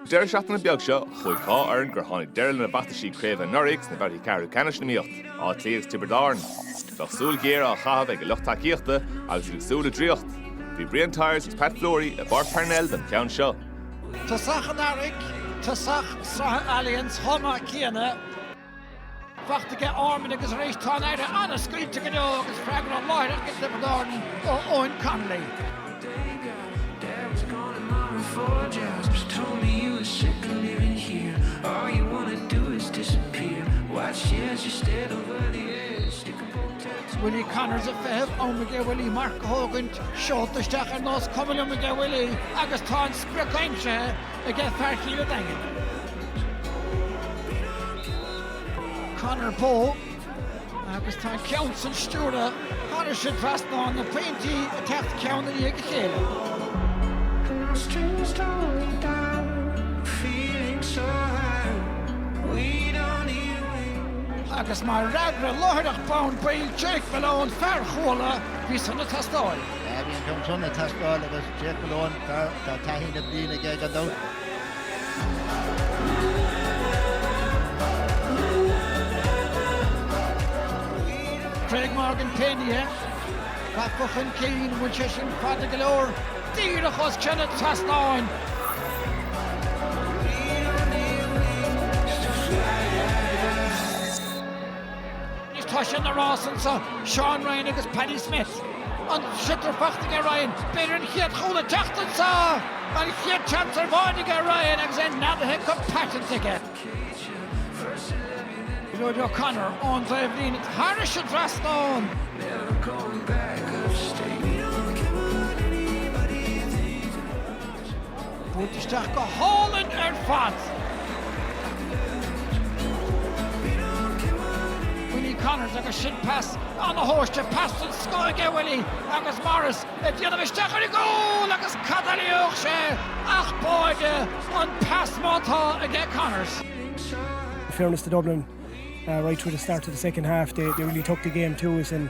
Deireadh seachtaine beag seo, chuaigh dhá fhoireann gur tháinig deireadh lena bhfeachtaisí craobh anuraidh sna babhtaí ceathrú ceannais in iomaíocht, Áth Cliath agus Tiobraid Árann. Bheadh súil ghéar á chaitheamh ag a lucht tacaíochta agus iad ag súil le draíocht. Bhí Brian Tyers agus Pat Fleury i bPáirc Parnell don cheann seo. Tosach an earraigh, tosach sraithe Allianz chomh maith céanna. Fachta aige Ormond agus arís tá an fhaire an-scaoilte go deo agus freagra láithreach ag Tiobraid Árann ó Eoghan Connolly. Willie Connors ag feitheamh am aige Willie marc a thógaint, seolta isteach ar nós cuma liom aige Willie agus tá an sprioc aimsithe aige fear Chill a' Daingin. Conor Bowe agus tá an ceann san stiúrtha thairis an trasnán na pointí ag teacht ceann i ndiaidh a chéile. Agus mar fhreagra láithreach bonn baill Jake Malone, fear Chuala, bhí san ag teastáil. Bhí an ceann san ag teastáil agus Jake Malone. Tá taithí na bliana aige gan dabht. Craig Morgan Kennedy ag bogadh chun cinn bhfuil sé sin fada go leor díreach os cionn an trasnáin. Anois tá sé ina rás anseo, Seán Ryan agus Paddy Smith. An sliotar fachta aige Ryan, b'fhéidir an chéad chúl ag teacht anseo! An chéad seans ar bháide aige Ryan agus é neadaithe go paiteanta aige. Gearóid O'Connor ón dtaobhlíne thairis an trasnán! Buailte isteach go hálainn ar fad! Willie Connors agus sin pas ana-thomhaiste, pas den scoth aige Willie agus Morris ag déanamh isteach ar an gcúl agus cad a thuillfeadh sé ach báide an pas má tá aige Connors. In fairness to Dublin, uh, right through the start of the second half, they, they really took the game to us and